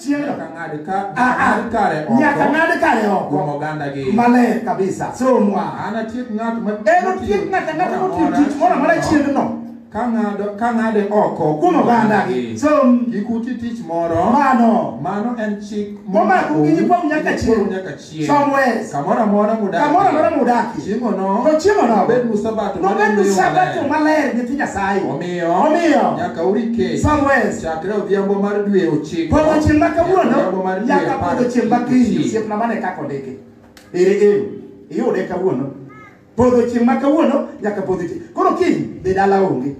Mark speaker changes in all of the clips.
Speaker 1: tielo Nyaka ng'ad ka- Ah, ah.
Speaker 2: ng'ad kare oko nyaka ng'ad kare kuom oko ogandagi. maler
Speaker 1: kabisa
Speaker 2: somwa Anatiek ng'at ma
Speaker 1: enotiek ng'ata ng'ata
Speaker 2: motiyo tich moro amora chieng'no ka ng'ado ka ng'ade
Speaker 1: oko kuom ogandagi
Speaker 2: som Kik uti tich
Speaker 1: moro. mano Mano en chik Momako gi nyikwau
Speaker 2: nyaka chieng'. Nyikwau nyaka chieng' somewhere. kamoro amora
Speaker 1: mudakie. Kamoro amora mudakie.
Speaker 2: Chiemono To
Speaker 1: chiemono nobed nu sabato
Speaker 2: mar nobed nu yweyo
Speaker 1: sabato maler.
Speaker 2: maler nyithi Nyasaye. Omiyo, Omiyo.
Speaker 1: nyaka urike Somewhere. chakre
Speaker 2: odhiambo mar
Speaker 1: dwe ochiko Podho chieng' ma nyaka odhiambo
Speaker 2: kawuono mar dwe nyaka apar podho chieng' ma kiny ochiko. osiepna mane kaka ondiki. Ere ero iyude kawuono. Podho chieng' ma kawuono nyaka podho chieng'. Koro kiny dhi dala onge.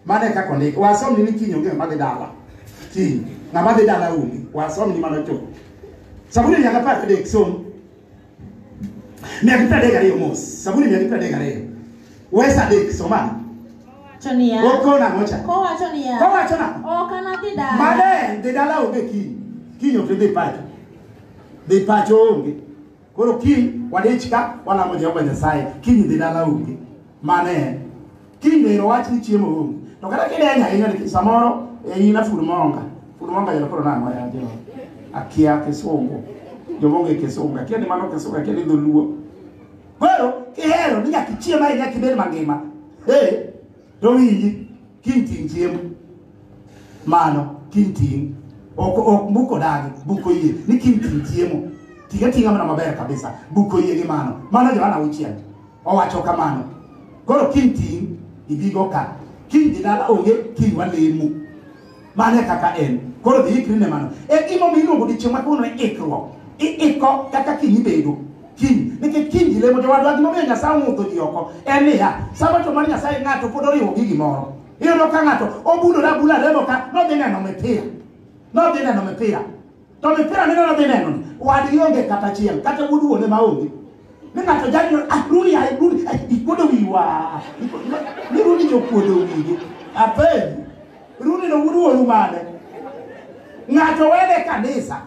Speaker 2: Mane kaka ondik. Wasomni ni kiny onge ng'ama dhi dala. Kiny. Ng'ama dhi dala onge. Wasomni mano chuth. Saburi mia gi apar gadek som. Mia gi piero adek gariyo mos. Saburi mia gi piero adek gariyo. Wes adek somane. Wacho niya.
Speaker 3: Oko nang'o cha?
Speaker 2: Kowacho niya. Kowacho
Speaker 3: nang'o? Ok anadhi dala. Mane dhi dala onge
Speaker 2: kiny. Kiny ok idhi pacho. Dhi pacho onge. koro kiny wadich ka walamo jehova nyasaye kiny dhi dala onge mano en kiny be irowach ni chiemo onge to kata kideny ahinya nikech samoro e in afud monga fud monga jalo koro nang'o ya jehova akia kisungu jomonge kisungu akia ni mano kisungu akia ni dholuo koro kihero ni nyaka ichiem ahinya kibed mangima ee To winji, kiny ting' chiemo. Mano, kiny ting'. Ok, ok buko dagi, buko yie. Ni kiny ting' chiemo. Tiga tinga mana maber kabisa. Buko yie gi mano. Mano Johana auchiel. Owacho kamano. Koro kiny ting' ibigo ka. Kiny dhi dala onge kiny walemo. mano e kaka en koro dhi ikri ne mano e gimomiyo iluongo dichieng' ma kawuono ni ikruok iiko kaka kiny ibedo kiny nikech kiny ji lemo jowadwa gimomiyo nyasaye ong'udho ji oko en niya sabato mar nyasaye ng'ato pod oriwo gi gimoro iyudo ka ng'ato obulore abula lemo ka nodhi neno mipira nodhi neno mipira To mipira neno na neno ni wadi onge kata achiel kata wuod wuone ma onge. Ni ng'ato jali ni ah rudi ai rudi ai ikuodo wiwa. Ni rudi jo kuodo wiwa. Ape rudi no wuod wuonu mane. Ng'ato wene kanisa.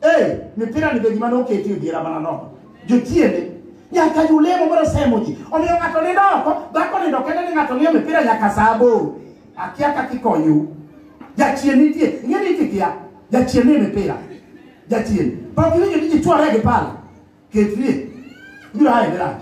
Speaker 2: Eh mipira ni be gima noketi e diera mana nono. Jotiende nyaka julemo mondo semo ji. Omiyo ng'ato nindo oko, dhako nindo kende ni ng'ato ng'iyo mipira nyaka saa aboro. Akia kaka ikonyu. Jachien nitie, ing'e ni itikia. Jachien ni mipira. Jachien. Pok iwinjo ni ji chware gi pala. Ketrie. Biro haye dirach.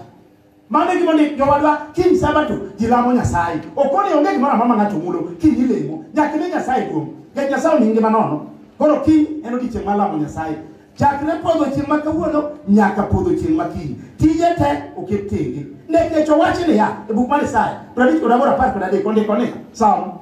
Speaker 2: Mano e gima ni jowadwa kiny sabato ji lamo Nyasaye. Ok one onge gimoro amora ma ng'ato mulo kiny ilemo. Nyaka ine Nyasaye duong'. Nikech Nyasaye omi ngima nono. Koro kiny en odiechieng' mar lamo Nyasaye. Chakre podho chieng' ma kawuono nyaka podho chieng' ma kiny. Tije te oket tenge. Nikech owachi niya e buk mar Isaya 58 kod 10 ondiko ni Salmo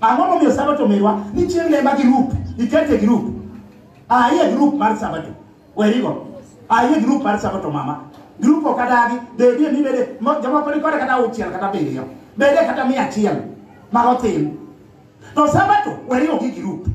Speaker 2: Ang'o momiyo Sabato merwa ni chieng' ne ma girup, ikete girup. Ah, iye girup mar Sabato. Werigo. Ah, iye girup mar Sabato mama. Girup ok adagi, bedie ni bede, mo- jomoko ni kode kata auchiel kata abiriyo. Bede kata mia achiel ma otim. To Sabato werigo gi girup.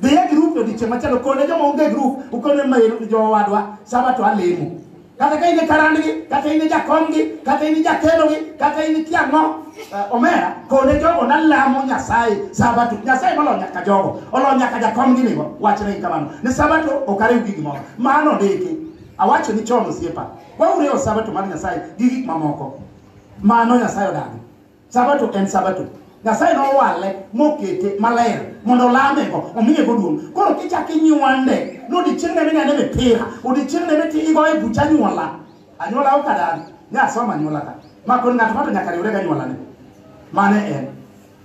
Speaker 2: Dhi e grup odiechieng' machielo, kone joma onge grup, ukone mail ni jowadwa, Sabato alemo. Kata ka in e karandgi, kata in e jakomgi, kata in e jakelogi, kata in ikia ang'o, eh, omera, kone jogo nalamo Nyasaye Sabato. Nyasaye molo nyaka jogo, olo nyaka jakomgi nigo, wachne kamano. Ni Sabato ok ariw gi gimoro. Mano ndiki. Awacho ni chon osiepa. Wauriwo Sabato mar Nyasaye gi gik mamoko. Mano Nyasaye odagi. Sabato en sabato. Nyasaye nowale mokete maler mondo olamego omiyego duong'. Koro kichak inywande ni odiechieng' ne minene mipira, odiechieng' ne miti igo e bucha anyuola. Anyuola ok adan, ne asoma anyuola ka. Ma kod ng'ato ng'ato nyaka riwre gi anyuolane. Mane en.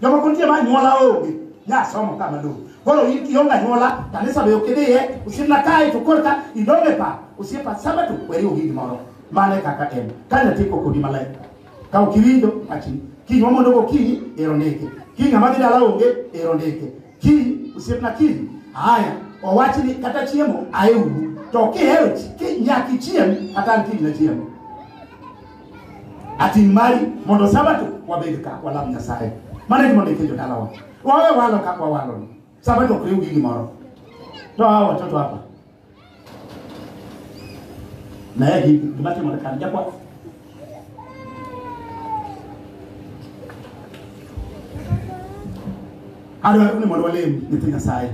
Speaker 2: Jomoko nitie ma anyuola onge, ne asomo ka malong'o. Koro in kionge anyuola, kanisa be ok idhiye, osiepna kae to korka idong' e pap. Osiepa sabato weri ogi gimoro. Mane kaka en. Ka nyathi kok odi maler. Ka ok iwinjo wachni, kiny wamondo gokinyi ero ndike. Kiny ng'ama dhi dala onge ero ndike. Kiny osiepna kiny. Haya, owach ni kata chiemo aeuru. To kihero chi- ki- nyaka ichiem kata an kiny nachiem. Ating' mari mondo sabato wabed ka walam Nyasaye. Mano e gima ondik e jodalawa. Wawe walo kaka wawalo. Sabato ok riw gi gimoro. To hawa watoto hapa. naye gima timore kar jakwath adwaro ni mondo walem nyithi nyasaye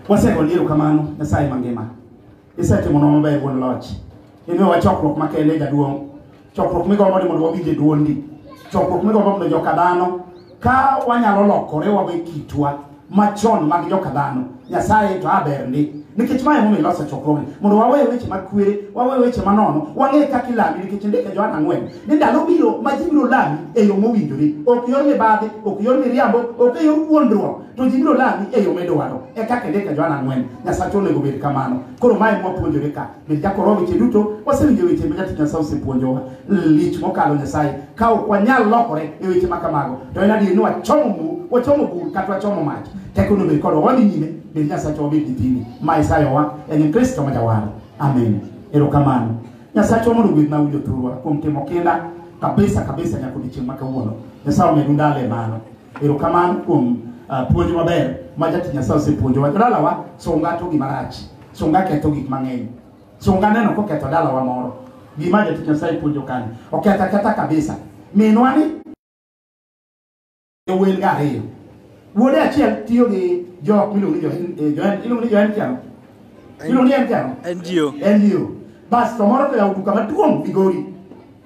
Speaker 2: wasego ni erokamano nyasaye mangima isetimo nwa maber wuon loch imiyo wa chokruok makende jaduong' chokruok migombo ni mondo wawinje dwondi chokruok migombo mondo joka dhano ka wanyalo lokore wawe kitwa machon mag joka dhano nyasaye to aber ndi nikech mae momiyo iloso chokruogni mondo wawe weche mag kwere wawe weche manono wang'e kaka ilami nikech ndike joan ang'wen ni ndalo biro ma ji biro lami e yo mowinjore ok yor mibadhi ok yor miriambo ok e yor wuondruok to ji biro lami e yo midwaro e kaka ndike joan ang'wen nyasache onego bed kamano koro mae mwapuonjore ka Michako roho weche duto, wasewinjo weche ma jatich Nyasaye osepuonjowa. Lich mokalo Nyasaye. Ka ok wanyal lokore e weche ma kamago, to en adier ni wachomo bur, wachomo bur kata wachomo mach. Teko onego bed kodwa wadhi nyime, bed Nyasacha wabed gi tini. Ma isayowa en Kristo ma jawar. Amen. Erokamano. Nyasachwa mondo gwedh na winjo thurwa kuom timo kinda kabisa kabisa nyaka odiechieng' ma kawuono. Nyasaye omedu ndalo e mano. Erokamano kuom ah, puonj maber ma jatich Nyasaye osepuonjowa. Jodalawa, sunga to gima rach. Sunga ketho gik mang'eny. Sunga neno koketho dalawa moro. Gima jatich Nyasaye puonjo kanyo. Oketho aketha kabisa. Minwa ni wen ga ariyo. Wuode achiel tiyo gi jok miluongo ni Johen, eh, Johen, iluongo ni Johen Kiano. Iluongo ni Johen Kiano. NGO. NGO. Bas to moro to yawo duka maduong' Migori.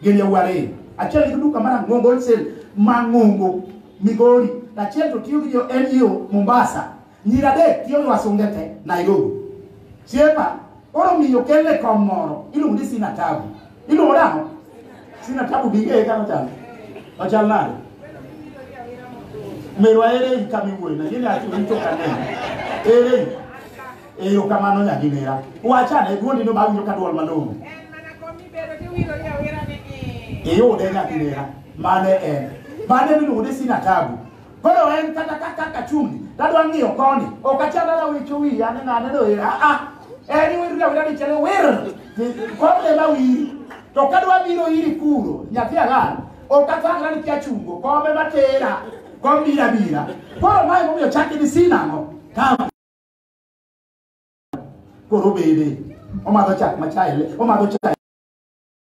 Speaker 2: Gin yawuo ariyo. Achiel nigi duka mar Ang'ongo Wholesale ma Ng'ongo Migori. Achiel to tiyo gi jo NGO Mombasa. Nyiri adek tiyo gi wasunge te Nairobi. Chiepa, koro miyo kelle kom moro, iluongo ni Sina Tabu. Iluongo nang'o? Sina Tabu bi ng'eye kaka ochal. Ochal nade? Merwa ere i kama iwuoye na, yini ati rito ka neno. Ere i? Eyo kamano nyagi nera. Wacha ne duondi no bawinjo ka duol malong'o. Iyude nyagi nera. Mane en. Mane miluongo ni Sina Tabu. Koro en kata ka kaka chumbi, tadwa ng'iyo koni. Ok achal dala wicho wiya ni ng'a neno hera. Ah, ah. En iwir dala wira dichele wir. Kod ema wiri. To kadwa biro iri kuro, nyathi agal. Ok athangla ni kia chungo, kome matera. Kom bira bira. Koro mae momiyo chaki ni sinang'o. Kama. Koro bebe. Omadho chak machaele. Omadho chak.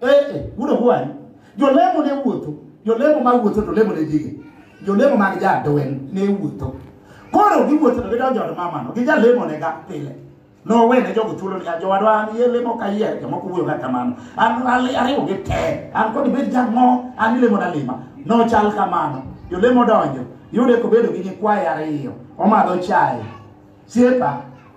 Speaker 2: Eh, eh, gudo gwani. Jolemo ne wuotho. Jolemo ma wuotho to lemo ne dige. Jolemo mag jadwen ne wuotho. Koro giwuotho to gidonjo od mamano. Gijalemo ne ga pile. nowene jogo thuolo ni jowadwa an yie lemo ka yie jomoko wuoyo ga kamano an ariwo gi te an kod bed jang'o an ilemo na lima nochal kamano jolemo donjo yude kobedo gi nyikwaye ariyo omadho chaye Sirka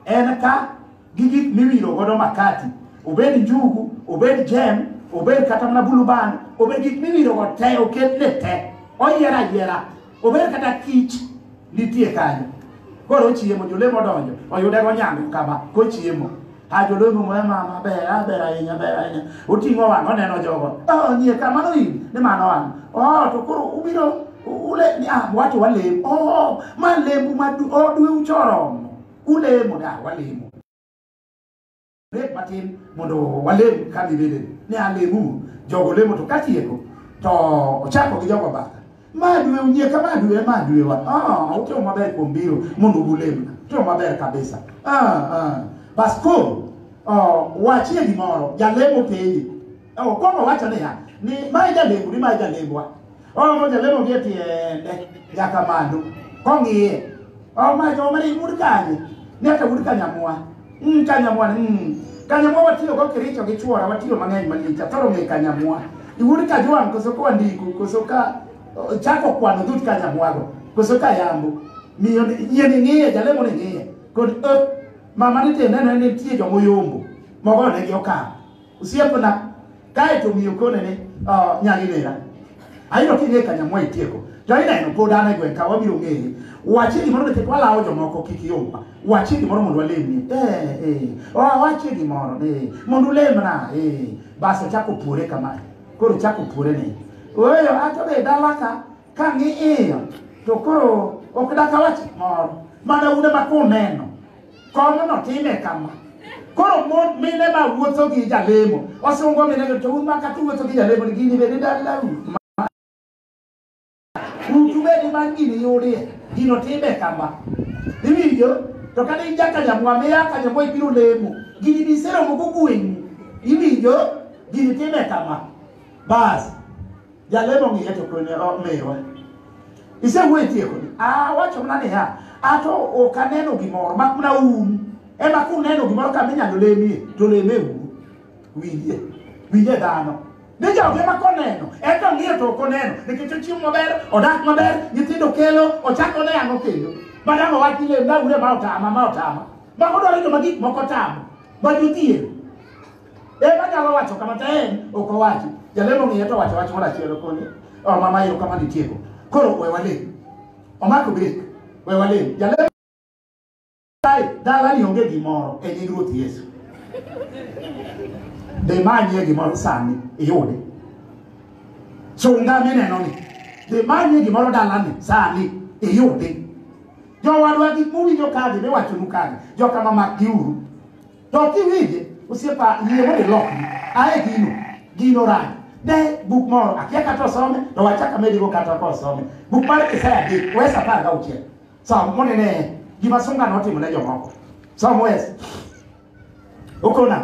Speaker 2: en ka gi gik miwiro godo makati, obed njugu, obed jem, obed kata mana buluban, obed gik miwiro go te, oket ne te, oyier ayiera, obed kata kich nitie kanyo. Koro ochiemo, jolemo odonjo, oyude go nyango kama, kochiemo. a jodongo moya mama ber aber ahinya ber ahinya oting'o wang' oneno jogo oh, nie kamano in ni mano an oh, to koro ubiro ule ah, wacho walemo oh, ma lembu ma oh, dwe uchoromo ulemo ni ah, walemo rek matin mondo walem ka bibede ni alemu jogo lemo to katieko to ochako gi jogo bathe Madwe unyeka madwe madwe wa. Ah, utio maber kuom biro mondo ulemna. Utio maber kabisa. Ah, ah. Bas koro oh, wachie gimoro jalemo penje. Oh, koro wacho niya ni ma jalemo ni ma jalembwa. Oh, mo jalemo gi tiende nyaka malo. Kong'iye. Oh, ma jo mari mur kanye. Nyaka mur kanyamwa. Mm, kanyamwa ni mm. Kanyamwa watiyo go kiricho gi chwora watiyo mang'eny malich atoro ng'e kanyamwa. Iwuod ka jwang' koso kwa ndiko koso ka oh, chako kwano dhut kanyamwago koso ka yambo. Miyo ni- yie ni ng'iye jalemo ni ng'iye kod eh, mama ni tiende ne nitie jomoyombo mogonegi okang'. Osiepna, kae to miyo kone ni uh, nyagi nera. Ayudo king'e ka nyamwa itieko. To ineno pod an e gweng' ka wabiro ng'eye. Wachie gimoro nikech walawo jomoko kik yomwa. Wachie gimoro mondo walemni. Eh, eh. Wa- Wachie gimoro ni mondo ulemna. Eh. Bas ochako puore kama. Koro ochako puore ni. Weyo ato be dala ka Ka ng'iyo to koro ok dakawach moro mana une ma kuneno kono notime kama koro mon mine ma wuotho gi jalemo osungo mine to un ma kata wuotho gi jalemo ni gini bende dalau utu bende man gini yudie gino time kama iwinjo to kata in jakanyamwa miya kanyamwa ibiro lemo gini biseromo gogweng'u iwinjo gini time kama bas Jalemo ng'iye to kone omiwa. Isewuoyo itieko ni. Ah wacho mana niya, ato ok aneno gimoro mak mana un. Ema kuneno gimoro kama inyalo lemie to leme uru. Winjie. Winjie dhano. Ni joge ma koneno, en to ng'iyo to ok oneno. Nikech ochiemo maber, odak maber, nyithindo kelo, ochako ne ang'o kendo. Madam owachi lem na ure ma otama ma otama. Mago dwaro joma gik moko tamo. Ma jodhier. En anyalo wacho kama to en ok owachi. Jalemo ng'iye to wacho wach moro achiel koni. Oh mama yo kama nitieko. Koro we wale. Omako break. We wale. Jalemo Dai dala ni onge gimoro e nying Ruoth Yesu. Dhi manyie gimoro sani iyude. Chunga mineno ni. Dhi manyie gimoro dalani sani iyude. Jowadwa gik mowinjo kagi miwachonu kagi. Joka mamak giuru. To kiwinje osiepa yie mondo ilokri. Ae gino, gino rach. Ne buk moro, akia kata osome, to wachaka medigo kata ka osome. Buk mar Isaya gi wes apar gauchiel. Som mondo ine gima sunga notimo ne jomoko. Som wes. Okona.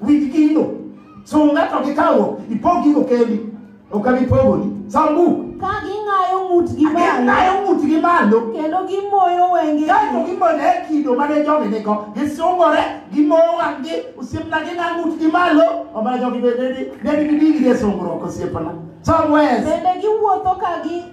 Speaker 2: Winj gino. Sunga to gi kawo, ipog gigo kendi. Ok abi pogoni. Som buk. Ka ging'ayo
Speaker 3: ng'utgi malo. Ging'ayo ng'utgi malo. Kendo gimoyo wengegi. Kaeto gimone
Speaker 2: kido mane jogi nigo. Gisungore, gimoyo wang'gi, osiepna ging'a ng'utgi malo. Omana jogi bende ne gidigi e sungruok osiepna. Som wes. Bende giwuotho
Speaker 3: ka gi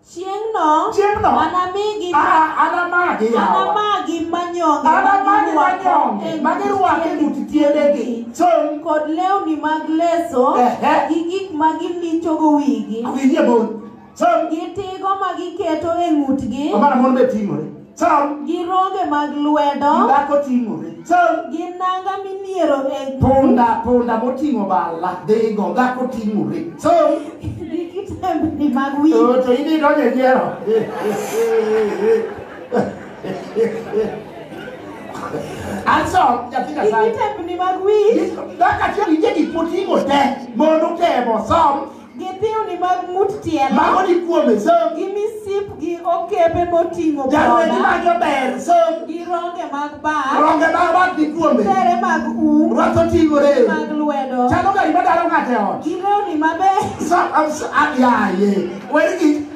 Speaker 2: Chieng'no,
Speaker 3: Chieng'no. anamigi Ah, anamagi yawa. anamagi manyonge Anamagi manyonge ma
Speaker 2: girwako e ng'ut tiendegi. Chon. kod
Speaker 3: lewni mag leso Ehe. gi gik ma gilichogo wigi Awinjie mon. Chon. gi tigo ma giketo e ng'utgi Omana mon be ting'ore. Chal. Gi ronge mag lwedo. Dhako ting'ore. Chal. Gi nanga miniero e. Punda, punda
Speaker 2: moting'o bala. Dhigo, dhako ting'ore. Chal. Gi
Speaker 3: kitembni mag wi. Oh, to in idonjo e
Speaker 2: nyiero. Anso, nyathi Nyasaye. Gi kitembni mag wi.
Speaker 3: Dhako
Speaker 2: achiel ije gik moting'o
Speaker 3: te.
Speaker 2: Mondo temo,
Speaker 3: som.
Speaker 2: gi
Speaker 3: thiwni mag ng'ut tielo Mago ni kuome, som.
Speaker 2: gi misip gi
Speaker 3: okepe moting'o Jalweny boda mage ber,
Speaker 2: som. gi ronge mag
Speaker 3: bat Ronge mag bat ni
Speaker 2: kuome. tere mag um
Speaker 3: Rwath oting'ore.
Speaker 2: mag lwedo Chalo
Speaker 3: gari madaro ng'ato
Speaker 2: e ot. gi lewni mabeyo
Speaker 3: Som, am- so- ah,
Speaker 2: yaye. Wer gi-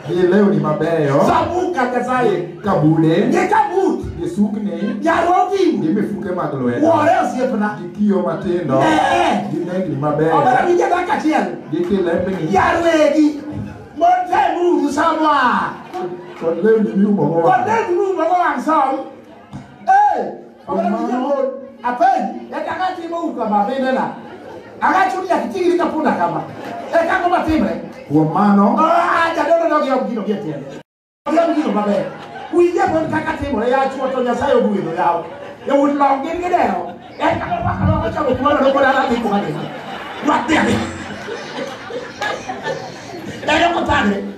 Speaker 1: Hii leo ni mabeyo Sabuk kata saye.
Speaker 2: kabude Ni
Speaker 1: kabut.
Speaker 2: gisukni
Speaker 1: Yarogi. gi
Speaker 2: mifuke mag
Speaker 1: lwedo Wore osiepna. gi
Speaker 2: kiyo matindo
Speaker 1: Eh. gi nengni Obara mabeyo winja dakika achiel.
Speaker 2: gi kilembni
Speaker 1: Yarwegi.
Speaker 2: Motemuru samwa. kod
Speaker 1: lewni miumogo wang' Kodeguru mogo wang'
Speaker 2: som. Eh. Apen, eka ngati mo uka ma bende na. Aga chuni ya kitigi ka punda kama. Eka ngoma timre. Kuom mano,
Speaker 1: Ah, jadolo no gi
Speaker 2: ogino gi tiende. Gi ogino maber. Kuinje pon kaka timre ya chuo to Nyasaye ogwedho yawo. E wut long gin gi deo. Eka mo paka lo ko chamo kuono no koda rabi kuma ni. Watiani. Eka mo tagre.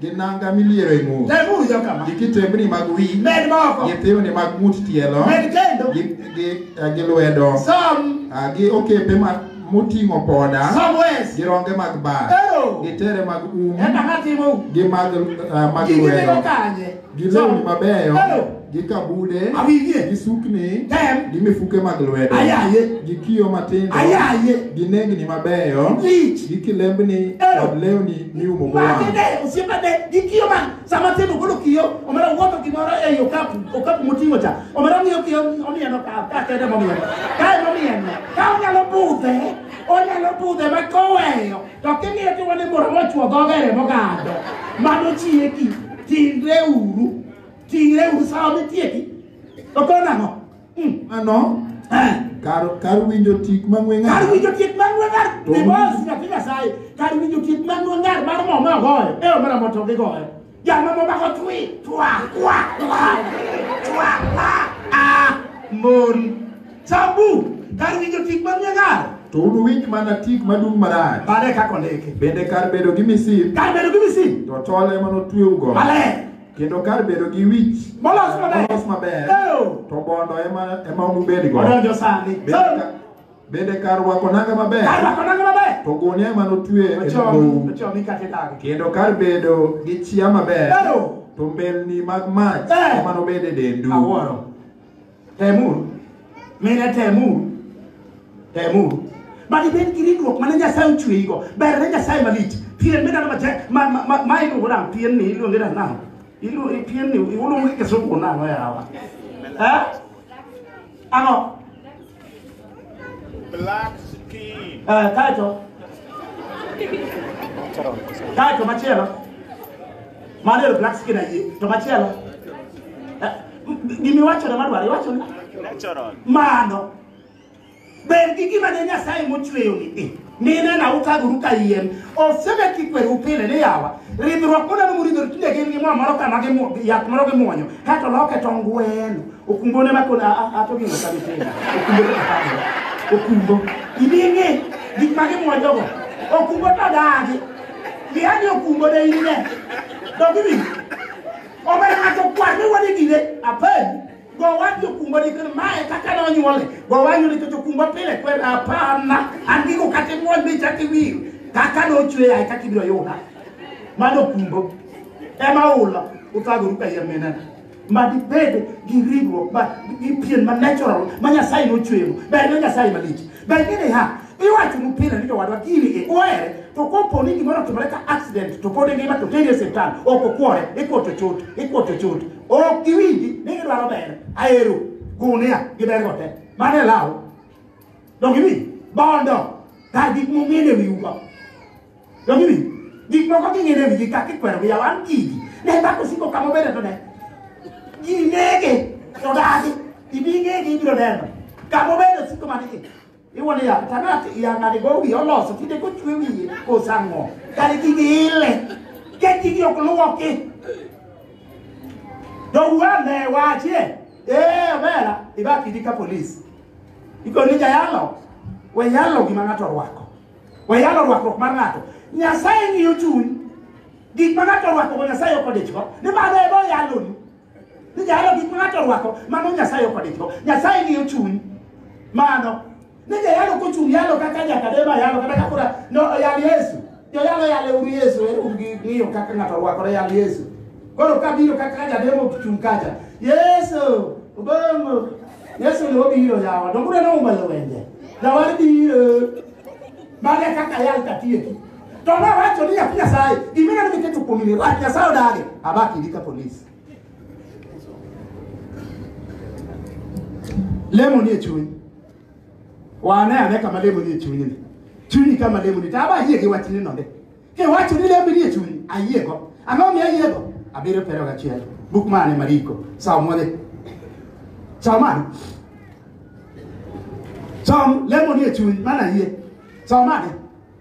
Speaker 1: gi nanga miliero e ng'ut tem uru jo kama gi kitembni mag wi med moko gi thiwni mag ng'ut tielo med kendo gi gi eh, gi lwedo som ah, gi okepe ma moting'o poda som wes gi ronge mag bar ero gi tere mag um enda natimo gi mag ah, mag gigi lwedo tego kanye gi lewni mabeyo Eyo. gi kabude Awinje. gi sukni Tem. gi mifuke mag lwedo Ayaye. gi kiyo matindo Ayaye. gi nengni mabeyo Lich. gi kilembni Eyo. kod lewni miumogo wang' Matinde osiepene gi kiyo
Speaker 2: ma sama tin ogolo kiyo omera wuotho gimoro ei okapu okapu moting'o cha omera ng'iyo kiyo omieno ka ka kende momieno kae momieno ka onyalo budhe onyalo budhe ma koweyo To king'iyo tiwane moro mochwo dhoge remo gado. Mano chieki. Tingre uru. Tingre uru sawa mitieki. To kona ang'o? Mm. Ano?
Speaker 1: Eh. Kar, kar winjo tik mang'we ng'ar. Kar winjo tik mang'we ng'ar. Ni
Speaker 2: boss na kila sai. Kar winjo tik mang'we ng'ar mar mo ma goyo. Eh mara moto gi goyo. Jomoko mako twi, twa, kwa, kwa, twa, kwa, a, mon. Sabu, kar winjo tik manie gar. To unuwinj mana
Speaker 1: tik madung' marach. Mane kaka ondiki.
Speaker 2: Bende kar bedo gi
Speaker 1: misil. Kar bedo gi misil. To tol ema notweugo. Maler. Kendo
Speaker 2: kar bedo
Speaker 1: gi wich. Molos maber. Molos
Speaker 2: maber.
Speaker 1: To bondo ema ema unubedgo. Odonjo sani.
Speaker 2: Bende
Speaker 1: kar rwako nanga maber. Kar rwako nanga maber. To gunia ema notue e dhowu. Ochomi kata idagi. Kendo kar bedo gi chia maber. Bero. To mbelni mag mach eh. ema nobed e dendu. Awuoro.
Speaker 2: Temuru. Mine temuru. Temuru. Badi ibed gi ringruok mane Nyasaye ochweyigo. Ber ne Nyasaye malich. Pien midano matek. Ma, ma, ma, ma iluongo nang'o? Pien ni iluonge nang'o? Iluongo pien ni iluongo gi kisungu nang'o yawa? Eh? Ang'o?
Speaker 4: Black skin. Eh, kaeto
Speaker 2: kaeto machielo mano ero black skin ayie to machielo Eh, m- gima iwachone madwaro iwachone Natural. mano ber gi gima ne nyasaye mochweyoni i Mina na utaguru ka yien. Osebe kikweru pile ni yawa. Ridhruok mona no muridhru tinde gin gi mo moro kama gi mo yath moro gi muonyo. Kato loke to ngweno. Okumbo ne makona a to gino sabi tinde. Okumbo ne makona. Okumbo. Ibingi gik ma gi muonyo go. Okumbo to dagi. Bi ani okumbo de ine. Dogi bi. Obere ato kwa ni wadi gine. Apen. Gowa jokumba ni kar mae kaka ne onyuole. Gowa yudo chocho kumba pile kwer apana. An gigo kata imuon bi chak iwir. Kaka ne ochwe yaye kaka ibiro yuda. Mano kumbo. Ema ula uthagoru ka yien menena. Ma dibed gi ringruok ma gi pien ma natural ma Nyasaye nochweyo. Ber ne Nyasaye malich. Ber ni niha iwacho ni pile ni jowadwa gini e ohere to kopo ni gimoro otimore ka accident to pod ingima to teri e siptal ok okwore ikuoto chot ikuoto chot ok giwinji ni gidwaro ber aero gunia gi ber gote mano e law donk iwinji bondo kar gik mong'ene wiugo donk iwinji gik moko king'ene wigi kaka ikwero gi yaw an gigi ne dhako siko kama obede to ne ginege to dagi ibingege ibiro neno kama obede siko manigi iwuon ya tanat yang'ani go wiye oloso tinde kochwe wiye kosang'o kare gigi ile ke gigi ok luoki dowuane wachie ee obera ibakidi ka polis ikoni jayalo we yalo gima ng'ato orwako we yalo rwakruok mar ng'ato nyasaye ng'iyo chuny gik ma ng'ato orwakogo nyasaye ok odichgo ni mano ema oyaloni Nijahero gik ma ng'ato orwako, mano Nyasaye ok odich go. Nyasaye ng'iyo chuny. Mano. Nijahero kochung' yalo kaka Nyakadema yalo, kata kaka ura- no, yal Yesu. Joyalo yale uru Yesu, ere un gi ng'iyo kaka ng'ato orwakore yal Yesu. Koro kabiro kaka Nyakadema ochung' kacha, Yesu, obongo. Yesu ne obiro yawa, donge uneno umbayo wenje? Jawar biro. Mane kaka yal katieki. To ma wacho ni nyathi Nyasaye, gima ineno miketo kuom ni rach Nyasaye odage, abaki gi ka polis. Lemo ni e chuny. Wane ane kama lemo ni e chuny ni. Chunyi kama lemo ni, to aba ayie gi wachni nonde. Ke wacho ni lemo ni e chuny, ayiego. Ang'o mi ayiego? Abiriyo pero gachiel. Buk mane Mariko? Sawa mwale. Sawa mane? Sawa lemo ni e chuny, mana ayie. Sawa mane?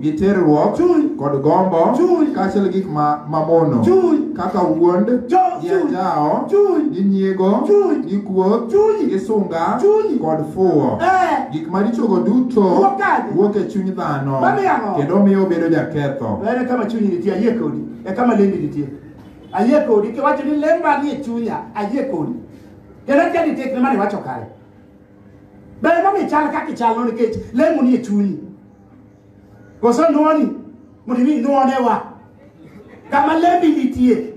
Speaker 1: gi terruok kod gombo kaachiel gik mamono kaka
Speaker 2: wuond
Speaker 1: gi anjawo gi nyiego gi kuoth gi sunga kod fuwo eh. gik marichogo duto wuok e chuny dhano kendo miyo obedo jaketho ere kama chunyi nitie
Speaker 2: ayie kodi e kama lembi nitie ayie kodi kiwacho ni lemba ni e chunya ayie kodi kendo tiani tekne mane wacho kare Ber momiyo ichal kaka ichalno nikech lemo nie chunyi. Koso nwoni mondo imi nwonewa kama lembi nitie.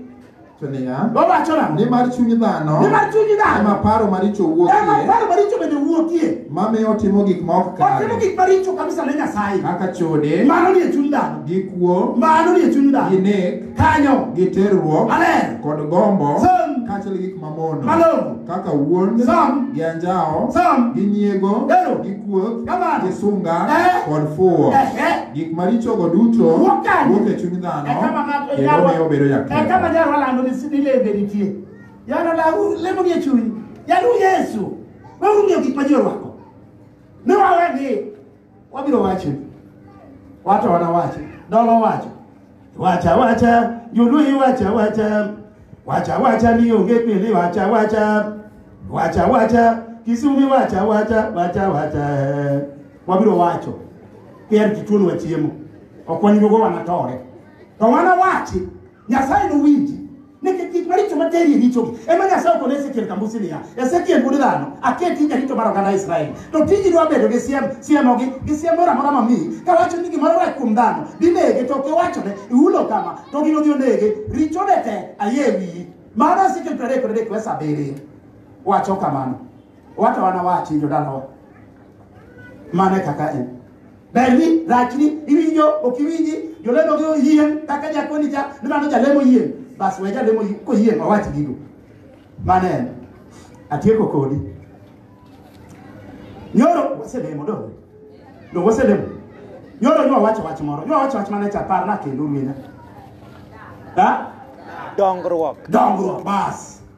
Speaker 2: To niya,
Speaker 1: Owacho nang'o? nimar chuny dhano Nimar chuny
Speaker 2: dhano
Speaker 1: ema
Speaker 2: paro maricho ema
Speaker 1: wuokie, paro maricho bende
Speaker 2: wuokie. mamiyo otimo gik
Speaker 1: ma ok Otimo kare, gik maricho kabisa
Speaker 2: ne Nyasaye. kaka chode,
Speaker 1: Mano nie chuny dhano.
Speaker 2: gi kuo, Mano
Speaker 1: nie chuny gi dhano.
Speaker 2: nek, Kanyo.
Speaker 1: gi
Speaker 2: terruok,
Speaker 1: Maler. kod gombo,
Speaker 2: Sam.
Speaker 1: kaachiel gi gik
Speaker 2: mamono
Speaker 1: Malongo. kaka
Speaker 2: wuond
Speaker 1: Sam. gi anjawo
Speaker 2: Sam.
Speaker 1: gi nyiego
Speaker 2: Ero.
Speaker 1: gi kuoth
Speaker 2: Kamano.
Speaker 1: gi sunga
Speaker 2: Eh.
Speaker 1: kod fuwo Ehe. gik marichogo duto Wuok kanye? wuok e chuny dhano E kama ng'ato kendo nyarwa- miyo obedo e kama jaketho nyarwa lando ni
Speaker 2: ni lembe nitie yano lawu lemo nie chuny yalu yesu weuru ng'iyo gik ma ji orwako ne wawe gi wabiro wache wato wana wache dolo wacho wacha wacha joluyi wacha wacha wacha wacha ni onge pili wacha wacha wacha wacha kisumi wacha wacha wacha wacha eh. wabiro wacho kier kituonwa chiemo ok wanyugo wanatore to wana wachi Nyasaye nowinji nikech gik maricho materi e richogi ema Nyasaye okone Ezekiel Kambusi niya, Ezekiel wuod dhano, aketi jarito mar oganda Israel. To tiji dwa bedo gi siem, siemogi gi siem moro amora mamiyi, kawacho ni gimoro rach kuom dhano, dinege to ok iwachone, ihulo kama, to gino dhi onege, richone te ayie e wiyi. Mano Ezekiel piero adek kod adek verse abiriyo wacho kamano. Wato anawachi jodalawa. Mano e kaka en. berni rachni iwinjo ok iwinji jolemo gi oyien kaka jakoni cha ni mano jalemo yien bas we jalemo koyien wawach gigo mano en atieko kodi nyoro waselemo do do waselemo nyoro nyo wacho wach moro nyo wacho wach mane cha par na kendo ruena ha
Speaker 4: dongruok dongruok bas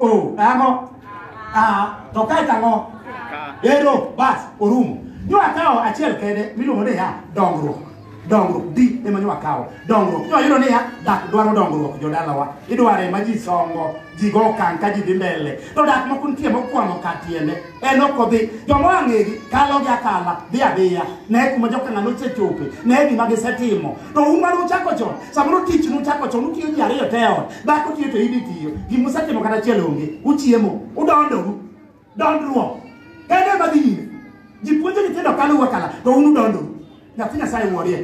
Speaker 2: o ang'o a to kae to ang'o ero bas orumo nywa kawo achiel kende miluongo ni ya dongruok dongruok di ema nywa kawo dongruok nywa yudo ni ya dak dwaro dongruok jodalawa idware ma ji songo ji go okang' ka ji dhi mbele to dak moko nitie mokwamo ka tiende en ok odhi joma ang'egi kalo gi akala dhi adhiya ne kuma jokang'ano osechope ne gima gisetimo to un mane uchako chon samoro tich nuchako chon utiyo ji ariyo te ot dhako tiyo to in itiyo gimusetimo kata achiel onge uchiemo udondoru dondruok kendo ema dhi nyime ji puonjo nyithindo kaluwe kala to un udondoru nyathi nyasaye wuorie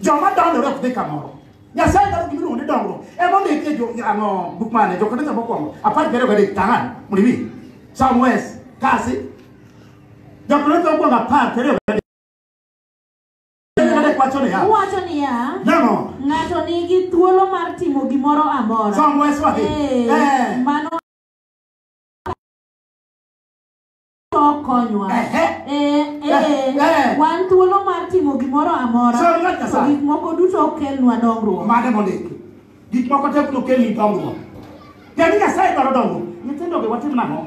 Speaker 2: joma dondore ok dhi kamoro nyasaye dwaro gimiluongo ni dongruok emomiyo itie jo ano buk mane jokorinto mokwongo apar gi ariyo gadek tang'an mondo iwinj some wes kasi jokorinto mokwongo apar gi ariyo Melkizedek
Speaker 3: wacho niya, Owacho niya, nang'o? ng'ato nigi thuolo mar timo gimoro amora. Som wes wahi. Eh, Eh. mano to konywa. Ehe. Eh, eh, Eh. wan thuolo mar timo gimoro amora. Sir, ng'at Nyasaye. To gik moko duto okelnwa dongruok. Mane mondiki?
Speaker 2: Gik moko tek nokelni dongruok. Tiend ni Nyasaye dwaro dongruok. Nyithindogi watim nang'o?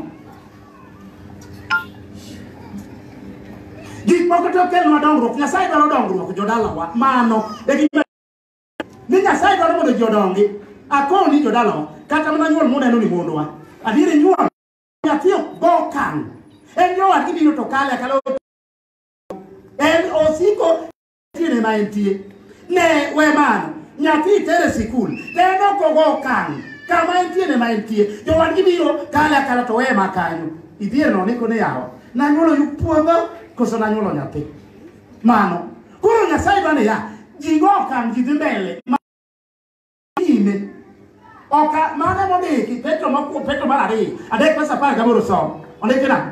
Speaker 2: Gik moko tek kelnwa dongruok. Nyasaye dwaro dongruok jodalawa. Mano e gima ni Nyasaye dwaro mondo ji odongi. Akowo ni jodalawa kata mana nyuol muneno ni mondwa. Adier nyuol nyathi ok go okang'. En nyowadgi biro to kale akalo en osiko tiene ma entie ne we mano nyathi itere sikul ne nokogo okang' kama entie ne ma entie jowadgi biro kale akala to weye ma kanyo idhier no niko ni yawa nanyuolo yuk puodho koso nanyuolo nyathi mano koro nyasaye dwa niya jigo okang' ji dhi mbele ma- nyime oka mano mondiki petro mokuo petro mar ariyo adek pesa apar gaboro som ondiki nang'o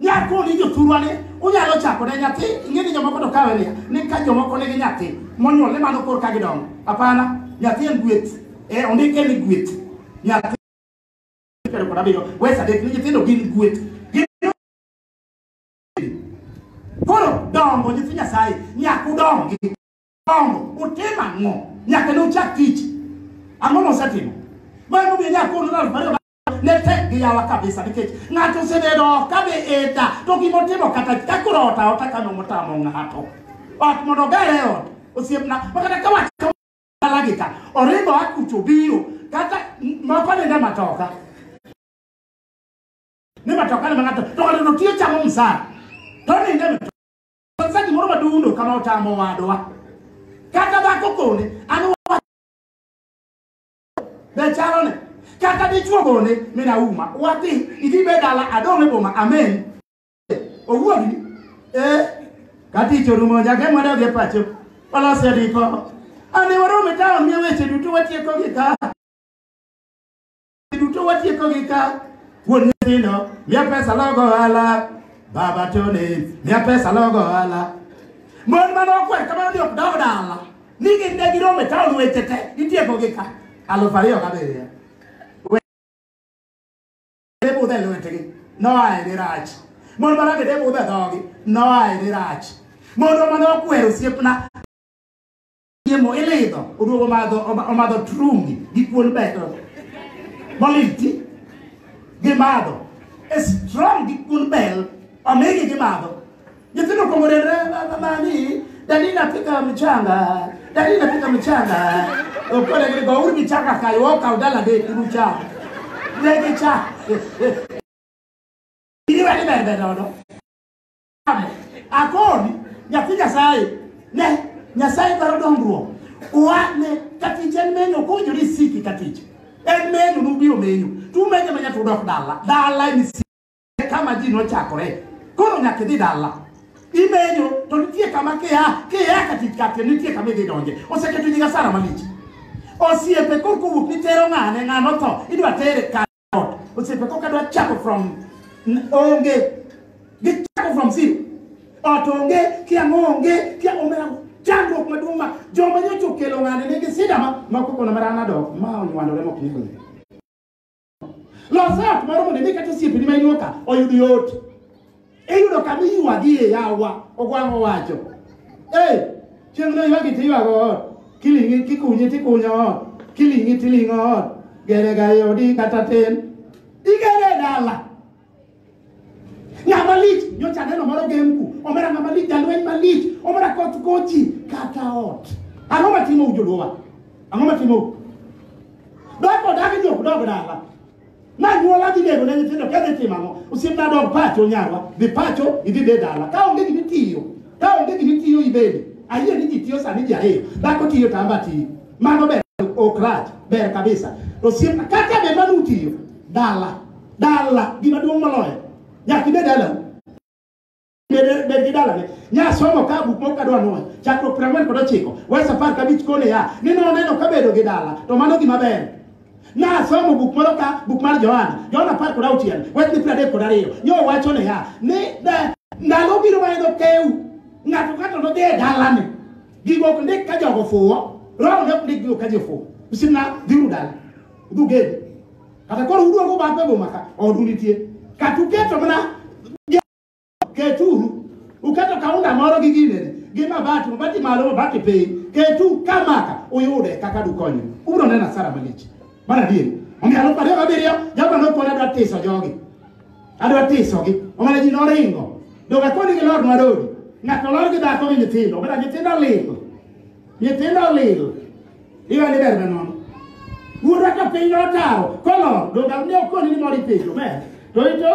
Speaker 2: Nyako ni jothurwa ne unyalo chako ne nyathi ing'e ni jomoko to kawe niya ni ka jomoko nigi nyathi monyuol ni mano kor ka gidongo hapana nyathi en gweth e ondike ni gweth nyathi piero kod abiriyo wes adek ni nyithindo gin gweth Gin- koro dongo nyithi nyasaye nyaka udongi dongo utim ang'o nyaka ne uchak tich ang'o mosetimo mar momiyo nyako unu aluf ariyo ne tek gi yawa kabisa nikech ng'ato osebedo ok ka be eda to gima otimo kata ka koro ot aota ka nong'o tamo ng'ato ot mondo oger e ot osiepna ma kata ka wach ka dalagi ka oringo akucho biro kata moko nende matoka ni matoka ne ma ng'ato to ng'ato notiyo chamo msara to ninde matoka sasa gimoro madundo kama otamo wadwa kata dhako kone an Be chalo ne? Kata dichuo bone mina uma. Wati idhi be dala adong e boma. Amen. Owuogi. Eh. Kati chorumo nyaka mwana odhi e pacho. Walose riko. Ane warome taon miya weche duto watieko gi ka. Duto watieko gi ka. Wuon nyithindo miya pesa logo ohala. Baba Tony miya pesa logo ohala. Mon mane okwer kamano ni ok daw dala. Ni gin ne giromo e taon weche te itiekogi ka alufu ariyo gabiriyo. Wede budho e lwetgi noa e dirach. Mon ma rabede budho e dhogi noa e dirach. Mondo mane okwero osiepna chiemo ilidho oduogo omadho omadho trungi gi kuon beto moliti gimadho e strong gi kuon bel omigi gimadho Nyithindo kuongo rendre mama ni dadi napika mchanga. Dadi napika mchanga. Okole gidi go urbi chaka kayo woka udala de kuru cha. Legi cha. Ini wani bebe nono. Amo. Akoni nyathi Nyasaye ne Nyasaye dwaro dongruok. Wane katich en menyo kujo ni siki katich. En menyo nubiro menyo. Tumenyo manya tudok dala. Dala ni kama ji nochakore koro nyaka idhi dala imenyo to nitie kama kia kia katikati nitie kama idhi donje oseketo nyinga sara malich osiepe kor kowuok nitero ng'ane ng'ano tho idwa tere kar ot osiepe kok adwa chako from n- onge gichako from zero ot onge kiang' onge kia omera chandruok maduong' ma joma nyocha okelo ng'ane nigi sida ma makokona marana dok ma onywandore mok nyingo Los ot moro mondo idhi kata osiepeni ma inuo ka oyud yot. Iyudo kama iywagie yawa, Ogwang' owacho. Ee, chieng' no ywagi to iywago ot, kiling'i kikunyi tikunyo ot, kiling'i tiling'o ot, gerega e odi kata tin, igere e dala. Ng'ama lich nyocha aneno moro gemku, omera ng'ama lich jalweny malich, omera koth kochi kata ot. Ang'o matimo ujoluowa? Ang'o matimo? Doko dagi jok dog dala. Na nyuola dhi nego ne nyithindo kedhi timo ang'o? Osiepna dog pacho nyarwa, dhi pacho idhi be dala. Ka onge gimi tiyo, ka onge gimi tiyo ibedi. Ayie ni ji tiyo sani ji ariyo, dhako tiyo tamba tiyo. Mano ber ok rach, ber kabisa. Osiepna kata be manu tiyo dala. Dala gima duong' moloyo. Nyaka ibed dala. Bed gi dalane. Nyasomo ka buk moko kadwa nwoyo. Chakruok piero ang'wen kod ochiko. Wes apar kabich kone ya. Ni noneno ka bedo gi dala. To mano gima ber. Nasomo buk moro ka buk mar Johana. Johana apar kod auchiel. Wes ni piero adek kod ariyo. Nyo wacho ne ya. Ni ndalo biro ma en okew. Ng'ato ng'ato nodhi e dalane. Gigo ok ndik ka jogo fuwo. Roho ne ok ndik gigo ka jofuwo. Usimna dhiuru dala. Udhugedi. kata koro uduogo bathe boma ka odu nitie kata uketo mana keturu uketo kaunda moro gi ginene gi mabati mabati malo mabati piny ketu kamaka uyude kaka dukonyo ubiro neno asara malich mar adier omiyo alufu ariyo gabiriyo jabra nokona adwa tiso jogi adwa tisogi omana ji noringo doga koni gi lor madodi ng'ato lor gi dhako gi nyithindo omana nyithindo ling nyithindo olil iwe ni ber manono wuodwa ka piny notawo kolor donge ne okoni ni moro ipenjo ber to ito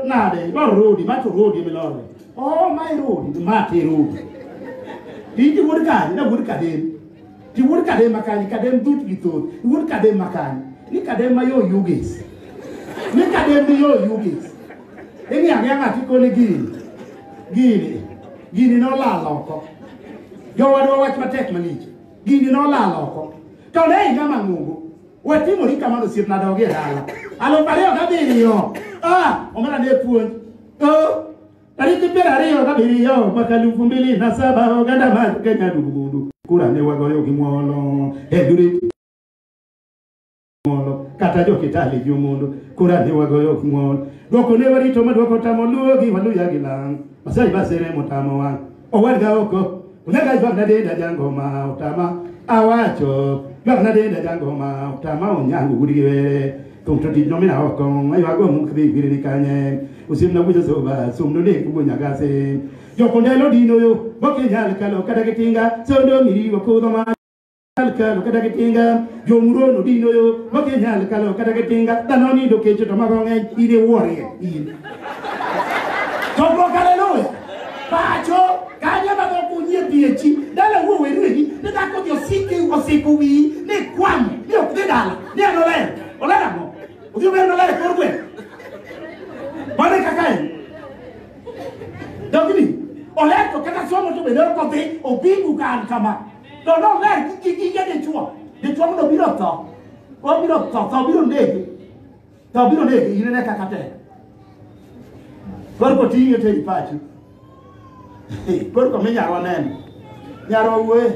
Speaker 2: nade ibaro rodi ma to rodi emilore o oh, ma irodi ma te rodi iti wuod kanye na wuod kadem ti wuod kadem ma kanye kadem dut gi thoth wuod kadem ma kanye ni kadem ma yo yugis ni kadem ni yo yugis ing'i ang'e ng'ati koni gini gini gini nolal oko jowadwa wach matek malich gini nolal oko to ne higa mang'ongo watimori kamano osiepna dogi e dala alufu ariyo gabiriyo Ah, omera ne puonj Oh, tariki piero ariyo gabiriyo mwaka alufu mbili na saba oganda mar kenya dugudu kura ne wagoyo gi ng'wono e dure ng'uono kata jokitali gi omondo kora ne wagoyo ok ng'uono dwoko ne warito ma dwoko tamo luwogi waluya gi lang masai basere motamo wang' owadga oko unaga jwagna denda jango ma otama awacho jwagna denda jango ma otama onyango gudi gi were thum to tich nomina oko aywago muk dhi gwiri ni kanye usimna wujo soba sumno ne kubo nyagase jokondelo dino yo bokinyal kalo kata gitinga sondo miriwo kudho ma kalo kata gi tinga jomurono dino yo makinyal kalo kata gi tinga dhano nindo kecho to mago ng'eny in iwuorie in chokruok haleluya pacho kanyo mago kunyie piechi dala wuo werwegi ni dhako ji osiki osiko wiyi ni kwam ni ok dhi dala ni en oler oler ang'o odhi ober noler e kor gweng' mano e kaka en dogni oler to kata somo to bende ok odhi obingu ka an kama To nomer gi gige dichwo. Dichwo mondo biro tho. Obiro tho, tho biro negi. Tho biro negi, inene kaka tek. Koro koting'e to ei pachi. Koro kome nyarwa neno. Nyarwa wuoye.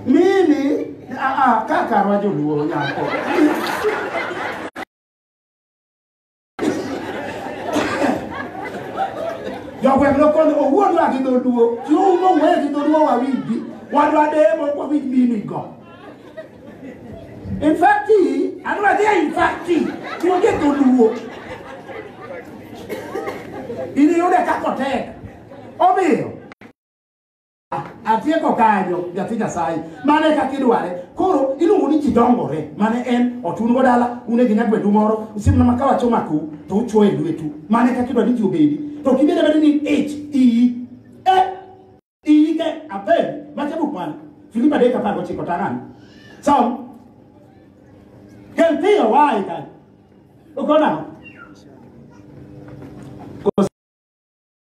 Speaker 2: Mimi, ah, ah, kaka rwa joluo nyako. Jogweng' nokono owuonwa gi dholuo, chi oumo wuoye gi dholuo wawinji, wadwa demo wawinj meaning go. In fact, adwa dhi in fact, onge dholuo. Iniyude kakotek. Omiyo, atieko kanyo nyathi nyasaye mano e kaka idware koro iluongo ni ji dongore mane en otun go dala une gi nyagwedu moro usimna ma kawacho makou to uchuo e lwetu mano e kaka idwaro ni ji obedi to kibed abeda ni ich iyi e iyi ke abed macha buk mane filipi adek apar gochiko tang'ani som kel piyo wayi kanyo ukonang'o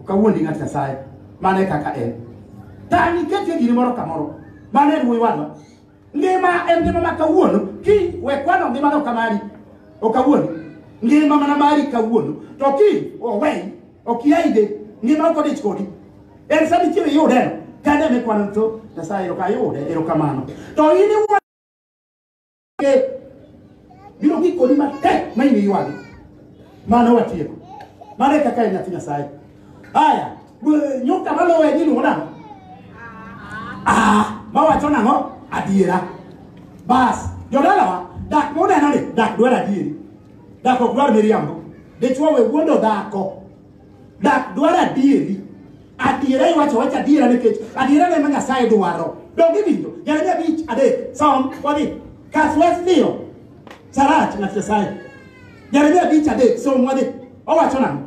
Speaker 2: Ok awuondi ng'at Nyasaye. Mano e kaka en. Tani ketie giri moro ka moro. Mano en wuoyi wadwa. Ngima en ngima ma kawuono. Kiny we kwano ngima no kamari. Ok awuondi. Ngima mana mari kawuono. To kiny oweyi. Ok iyaide. Ngima ok odich kodi. En sa michiew iyude. Kane mikwano to Nyasaye erokamano. To in iwuondo biro gikoni matek ma in iywagi mano watieko mano e kaka en nyathi nyasaye aya bu- nyuka maluwe ni luwo nang'o Ah, mawacho nang'o adiera bas jodalawa dak muneno ni dak dwar adieri dak ok dwar miriambo dichwo we wuondo dhako Dak dwaro adieri. Adiera iwacho wacha adiera nikech adiera ne ma Nyasaye dwaro. Donge winjo? Jeremia abich adek. Som wadhi. Kas wes dhiyo. Sarach ng'at Nyasaye. Jeremia abich adek. Som wadhi. Owacho nang'o?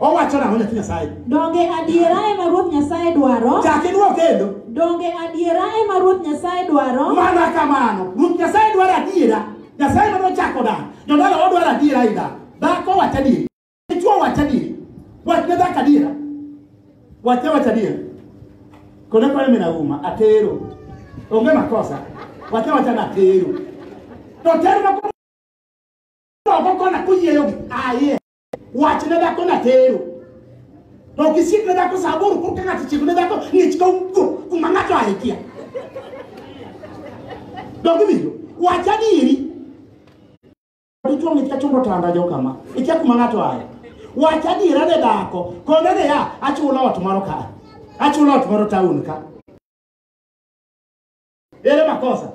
Speaker 2: Owacho nang'o nyathi Nyasaye? Donge adiera
Speaker 3: ema Ruoth Nyasaye dwaro? Chak idwok kendo.
Speaker 2: Donge adiera
Speaker 3: ema Ruoth Nyasaye dwaro? Mana kamano.
Speaker 2: Ruoth Nyasaye dwaro adiera. Nyasaye ma nochako dak. Jodala odwaro adiera i dak. Dhako wacho adieri. Dichwo wach adier. Wach ne dhako adiera. Wach ne wach adier. Kone kone mina uma atero. Onge makosa. Wach ne wach na atero. To tero ma ko ko kona kuyieyo gi aye. Wach ne dhako na atero. To kisik ne dhako saburu kur kaka tichik ne dhako ngich ka ugo kuma ngato ahikia. Dongi biyo. Wach adieri. dichwo mit ka chumbo tanda jo kama ikia kuma ng'ato aye wach adiera ne dhako kone niya achulo ot moro ka achulo ot moro taun ka ere makosa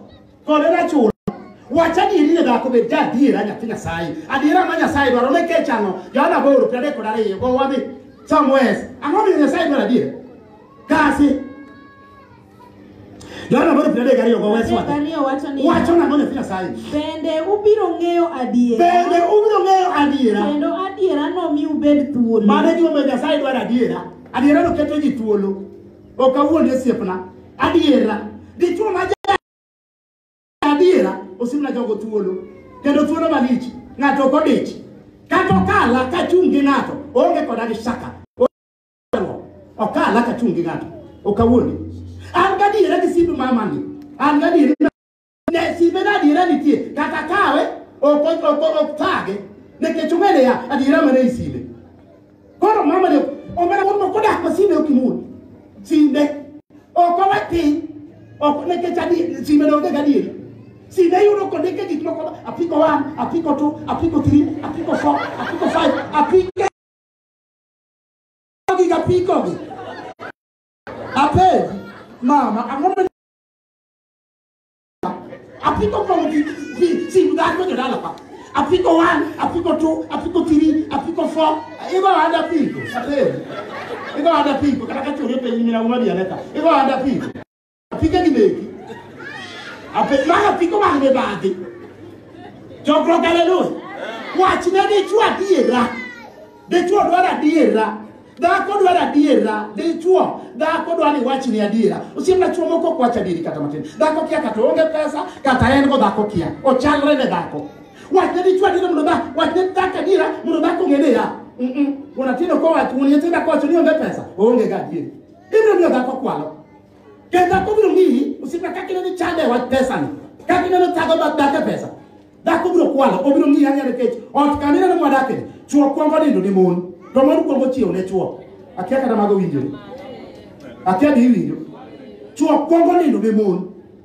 Speaker 2: kone nachulo wach adieri ne dhako bed ja adiera nyathi nyasaye adiera ma nyasaye dwaro ne kech ang'o johana booro piero adek kod ariyo go wadhi somewhere ang'o miyo nyasaye dwaro adiera kasi Yohana aboro piero adek gariyo go wes Adek wate. ariyo wacho ni Wacho nang'o nyathi Nyasaye? bende ubiro
Speaker 3: ng'eyo adiera Bende ubiro ng'eyo adiera. kendo adiera nomi ubed thuolo Mano e gimomiyo Nyasaye
Speaker 2: dwaro adiera. Adiera no keto ji thuolo. Ok awuond osiepna. Adiera. Dichwo ma ja adiera osimna jogo thuolo. Kendo thuolo malich. Ng'ato ok odich. Kata okala kachung' gi ng'ato. Onge koda gi shaka. ok ala ka chung' gi ng'ato ok awuondi an gadiera gi simb mamani an gadiera ne simbe na adiera nitie kata kawe ok ok ok- ok thage nikech ong'eyo ya adiera mane i simbe koro mamani omena wuon moko dak ma simbe ok imul simbe ok owe piny ok nikech adi simbe donge gadieri simbe yudo kondike gik moko apiko one apiko two apiko three apiko four apiko five apiko Gi ga piko gi. Ape mama ang'o ma apiko kong gi gi sim dhako jo dala pa. Apiko one, apiko two, apiko three, apiko four. Igo ada piko. Ape. Igo ada piko kata ka chori pe nyina uma bianeta. Igo ada piko. Apika gi meki. Ape mara apiko mag mibadhi. Chokruok haleluya. Wach ne dichwo adiera. Dichwo dwaro adiera. Dhako dwaro adiera. Dichwo dhako dwaro ni wach ni adiera. Osiemna chwo moko ok wach adieri kata matin. Dhako kia kata onge pesa kata en go dhako kia. Ochalre ne dhako. Wach ne dichwo adiera mondo dhako wach ne dhako adiera mondo dhako ng'e ni ya. Mm-mm. Unatindo kowacho, unitenda kowacho ni onge pesa, oonge ga adieri. Ibiro miyo dhako kwalo. Kendo dhako biro miyi osiepna kaka ineno ichande e wach pesani. Kaka ineno thago mag dak e pesa. Dhako biro kwalo, obiro miyi ang'e nikech ot kama ineno mwadakeni, chwo kwongo nindo ne mon, to mon kwongo chiewo ne chwo. Akia kata mago winjore. Akia be iwinjo. Chwo kwongo nindo ne mon,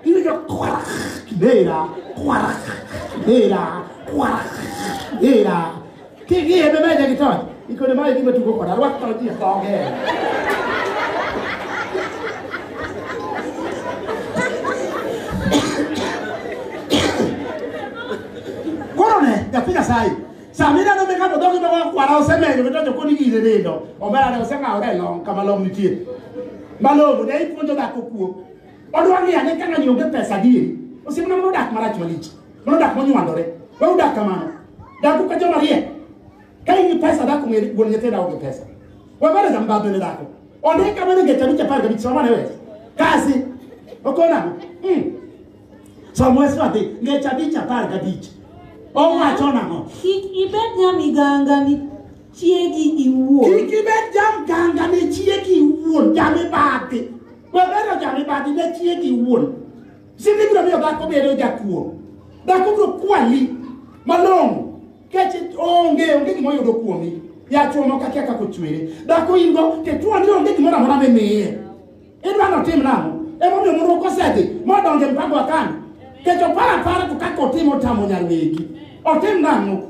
Speaker 2: Ini dia kuarak, dera, kuarak, dera, kuarak, dera. Kiki ya bebe jadi tuh. Iko nama ini betul kok, ada waktu lagi ya kau ke. Korone, ya pika sai. Samina no meka mo dogi bawa kwara oseme yo beto ko ni gire ne do. Omara ne osema ore long kama long nitie. Malo ne ipunjo da ko kuo. Odwa ni ane ka ng'ani onge pesa adieri. Osiepna mano dak marach malich. Mano dak monywandore. We udak kamano. Daku ka joma riek. Ka in gi pesa dak ong'e wuon nyithindo dawo gi pesa. We bado za mbabe ne dako. Onde ka bado ngeta bicha par kabich soma ne wes. Kasi. Okona. Mm. Somo wesu ati ngeta bicha par kabich. Owacho nang'o? Kik ibed
Speaker 3: nyamiganga ni chiegi iwuon. Kik ibed
Speaker 2: jamganga ne chiegi iwuon jamibadhi. Wabero jamibadhi ne chiegi wuon. Sidi biro miyo dhako bedo jakuo. Dhako biro kwali malong'o. Keche onge onge gima oyudo kuomi. Yachuo moko akia kaka ochwere. Dhako in go te tuo ni onge gimoro amora mimiye. Idwa notim nang'o? Emomiyo mondo kosedhi modonjo e mpango wa kani. Kecho para para to kaka otimo tamo nyarwegi. Otim nang'o?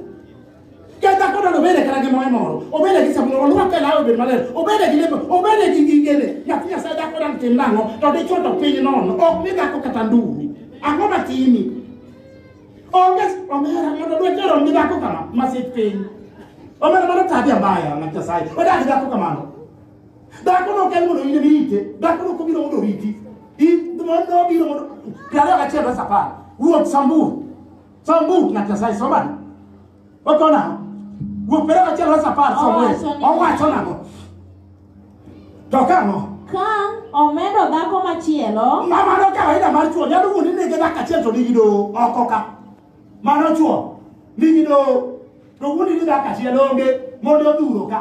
Speaker 2: Ke dhako dala obede kata gi moe moro, obede gi sabun, olwake lawe obed maler, obede gi lepe, obede gi gigene. Nyathi Nyasaye dhako dala tim nang'o? To dichwo to piny nono, ok ni dhako kata nduru. Ang'o matimi? Onge omera mondo lwete rom gi dhako kama, masik piny. Omera mano tabia mbaya na Nyasaye, odak gi dhako kamano. Dhako no kel mondo ine mite, dhako no kobiro mondo riti. In mondo obiro mondo, kare achiel bas apar, wuok samburu. Sombu na Nyasaye somani. Oko nang'o? Wuok pero achiel wes apar somwe. Owacho ni- Owacho nang'o? To kang'o? Ka
Speaker 3: omedo dhako machielo, Ma mano kawaida
Speaker 2: mar chuo nyalo wuondi ni gi dakika achiel to nigi doho oko ka. Mano chuo nigi doho to wuondi ni dakika achiel onge mondo odhuro ka.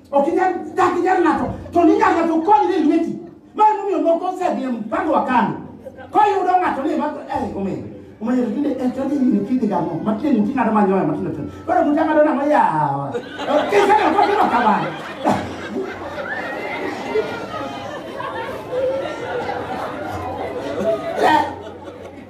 Speaker 2: Ok inyal dak inyal ng'ato to ninyal ng'ato kony ni lweti. Mano momiyo moko osedhi mpango wa kano. Koyudo ng'ato ni ma eh omedo. Omedo tinde eh tinde ni kidi gamo. Matinde ni ting'ado manyoya matinde tinde. Koro muta ng'ado na moya. Ok inyal ko timo kamano. Eh,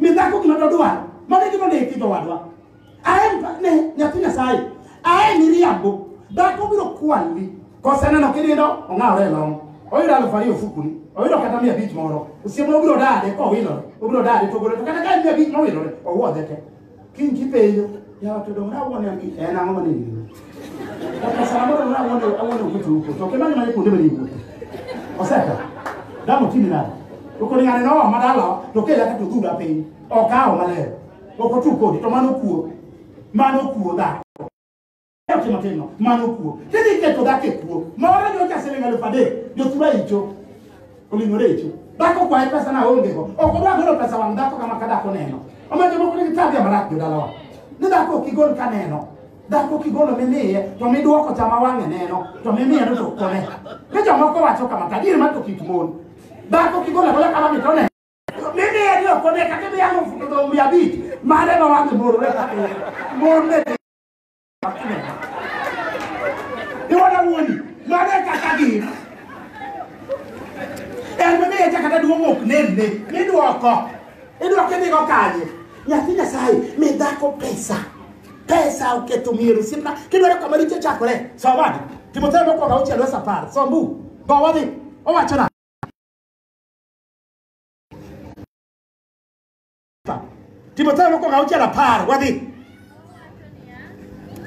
Speaker 2: mi dhako gima dodwaro mano e gima ondiki jowadwa aen ne nyathi nyasaye aen iriambo dhako biro kwali koseneno kinindo ong'awre e long oyudo alufu ariyo ofukuni oyudo kata mia abich moro osiemo obiro dade kowilore obiro dade togole to kata ka en mia abich mowilore owuodhe te Kiny kipenjo, yawa to donge nawuone angi en ang'o mane ng'eyo? Kaka saa moro donge nawuone awuone kucho uko. To kimanyo mane kuonde mane iwuothe. Oseka. Damo timi nade? To kod ng'ane noa madala to kela ka to dhura piny. Okawo maler. Ok otu kodi to mano kuo. Mano kuo dhako. Yache matino mano kuo kidhi keto dhako e kuo moro nyocha siling alufu adek jothura icho oling'ore icho dhako kwaye pesa na onge go ok odwa golo pesa wang' dhako kama ka dhako neno omiyo jomoko nigi tabia marach jodalawa ni dhako ok igol ka neno dhako kigolo mimiye to midwoko chama wang'e neno to mimiye no to kone ni jomoko wacho kama tajiri ma to kik mon dhako kigolo agola kama mi to neno mimiye ni ok one kata imiye alufu to dong' mia abich mare ma wang'e morore kata mon ne Iwona wuoni, mano e kaka gin. En mane echa kata duong' ok nenne, midwoko. Idwoko idhigo kanye? Nyathi Nyasaye, mi dhako pesa. Pesa oketho mier osiepna. Kidwaro kama richo chakore, som adi. Timotheo mokwongo auchiel wes apar, som bu. Go wadhi. Owacho nang'o? Timotheo mokwongo auchiel apar wadhi.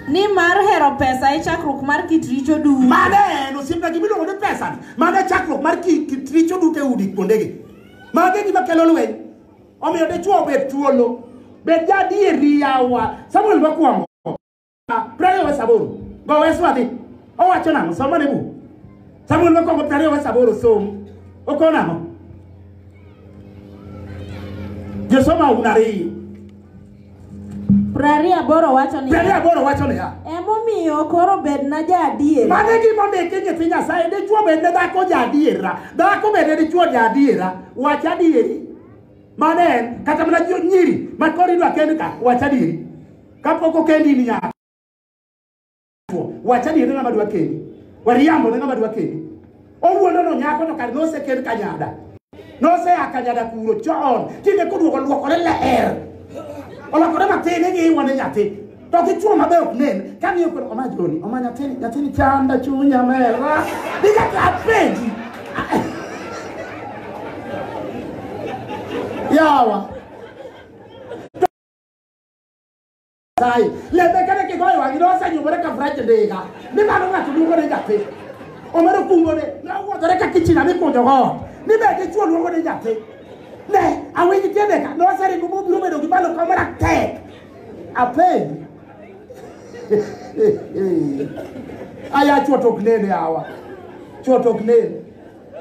Speaker 3: Ni mar hero pesa e chakruok mar kit richo duto. Mane en osiepna
Speaker 2: gima iluongo ni pesa ni. Mane chakruok mar kit richo duto e udi kuondegi. Mage gima kelo lweny. Omiyo dichwo obed thuolo. Bed jaadieri yawa. Samuel mokwongo. Prariyo wa saboro. Go wesu adhi. Owacho nang'o? Somo ne buk. Samuel mokwongo prariyo wa saboro som. Okon ang'o? Josoma un ariyo.
Speaker 3: Prariyo aboro wacho ni Prariyo aboro wacho niya.
Speaker 2: emomiyo
Speaker 3: koro bedna jaadier. Mano e gima ondiki e
Speaker 2: nyithi Nyasaye. Dichwo bed ne dhako ja adiera. Dhako bed ne dichwo ja adiera. Wach adieri. Mano en. Kata mana jo- nyiri. Ma koro idwa kend ka. Wach adieri. kapok okendi in nyako wacha ni en ng'ama dwa kendi wariambo ne ng'ama dwa kendi owuondo no nyako to kar nosekend kanyada nosea kanyada kuro chon tinde koduogo luokore leer olokore matin ing'i iwane nyathi to kichuo mabe ok nen kang'iyo koro oma joni oma nyathini nyathini chanda chunya mera nikata apenji yawa Nyasaye. Lembekane kigoyo wang'i ne osenyumore ka frach ndiga. Ni mano ng'ato luongo ni nyathi. Omero kungo ne ne owuodhore ka kichina mikunjo go. Ni be dichwo luongo ni nyathi. Ne awinj tiende ka ne oseringo mobiro bedo gi malo ka mara tek. Apenj. Aya chwo to ok nene awa. Chwo to ok nene.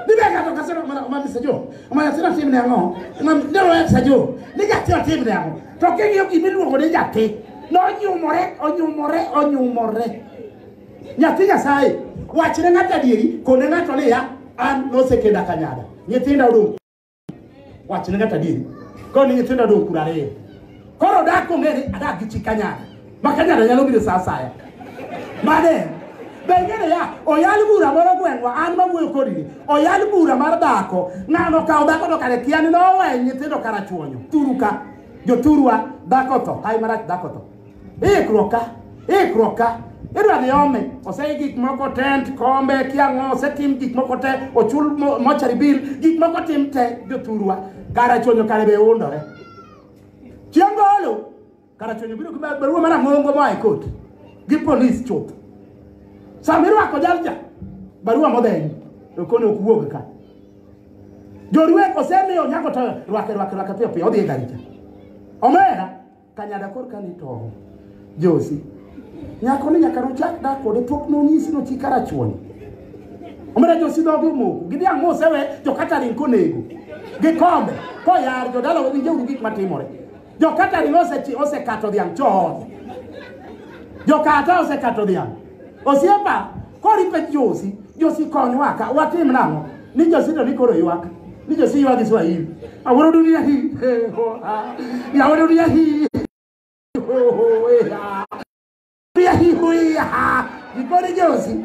Speaker 2: Ni be ng'ato ka sero mana mana sajo. Mana sero tim ne ango. Ngam ne wa sajo. Ni ja sero tim ne ango. To ke ngiyo gimi luongo ni nyathi. No nyumore, onyumore, onyumore. Nyathi Nyasaye wachne ng'ato adieri kone ng'ato niya an nosekenda kanyada. Nyithinda odong' wachne kata adieri koni nyithindo dong kura ariyo koro dak ong'e ni adak gi chi kanyada ma kanyada nyalo biro sa asaya mane be ing'eyo ya oyal bura moro gweng'wa an mawuoyo kodi ni oyal bura mar dhako ng'ano kawo dhako to kare kia ni nowe nyithindo karachuonyo turu ka joturwa dhako tho hai marach dhako tho ikruoka ikruoka idwa dhi ome osei gik moko tent kombe kiang'o osetim gik moko te ochul mo- mochari bill gik moko tim te jothurwa kara chonyo kare be undore chieng' golo kara chonyo biro gi ba- barua mana ng'ongo moa e kot gi polis chuth sama irwako jalja barua modhenyi okoni ok wuog ka jorwek osemiyo nyako to rwake rwake rwake piyo piyo odhi e garicha omera Kanyada korka ni tong'. Josi. Nyako ni nyaka nochak dak kode pok nonyisi no chika rachuon. Omera Josi dhoge omoko. Gidhi ang'o osewe to kata ring konego. Gikombe. Koyar jodala wawinje uru gik matimore. Jokata ring osekato dhiang' chon. Jokata osekato dhiang'. Osiepa, kori pek Josi, Josi konywa ka, watim nang'o? Ni Josi to ni koro ywak, ni Josi ywak gi Swahili. Awuoro dunia hii, he, ho, ha. Yawa dunia hii, ho, ho, he, ha. Dunia hii, ho, he, ha. Gikone Josi.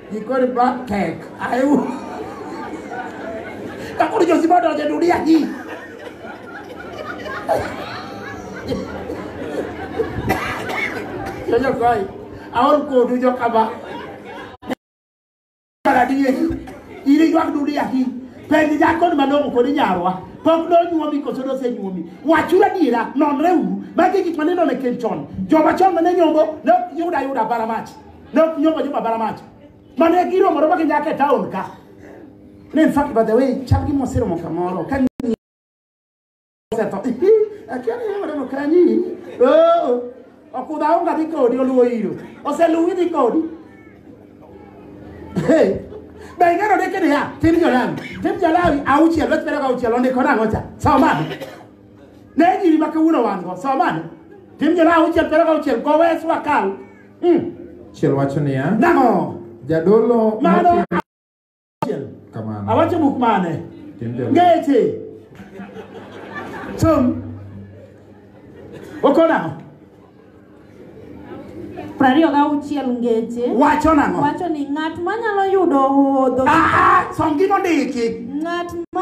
Speaker 2: Iko ni black tech. Ayu. Kakuri josi bado aja dunia hii. Jojo koi. Aon ko du jo kaba. Para di hii. Ili ywak dunia hii. Penj nyako ni malongo kod nyarwa. Pok nonyuomi koso nosenyuomi. Wachuru adiera, nonreuru. Magi gik ma nineno e keny chon. Joma chon mane nyombo ne ok yud ayuda bara mach. ne ok nyombo joma bara mach mane giromore ma ginyaka e taon ka ne in fact by the way chal gi moseromo kamoro ka ng'i- osetho Ihi, akia ni waneno kanyi Oo, okudha onga dhi kodi oluwo iro oseluwi dhi kodi Hey, be ing'eyo ni kini ya tim jolawi tim jolawi auchiel wech bedo ka auchiel ondiko nang'o cha somane ne nyiri ma kawuono wan go somane tim jolawi auchiel bedo ka auchiel gowes wakal
Speaker 1: Chiel wacho niya, Nang'o?
Speaker 2: jadolo Mano
Speaker 1: motimo achiel. kamano. Awacho buk mane?
Speaker 2: Tim jadolo. Ngeche. Som. Oko nang'o?
Speaker 3: Prariyo gauchiel ngeche. Wacho nang'o? Wacho
Speaker 2: ni ng'at manyalo
Speaker 3: yudo hodho. Ah, ah, som gino
Speaker 2: ndiki. Ng'at ma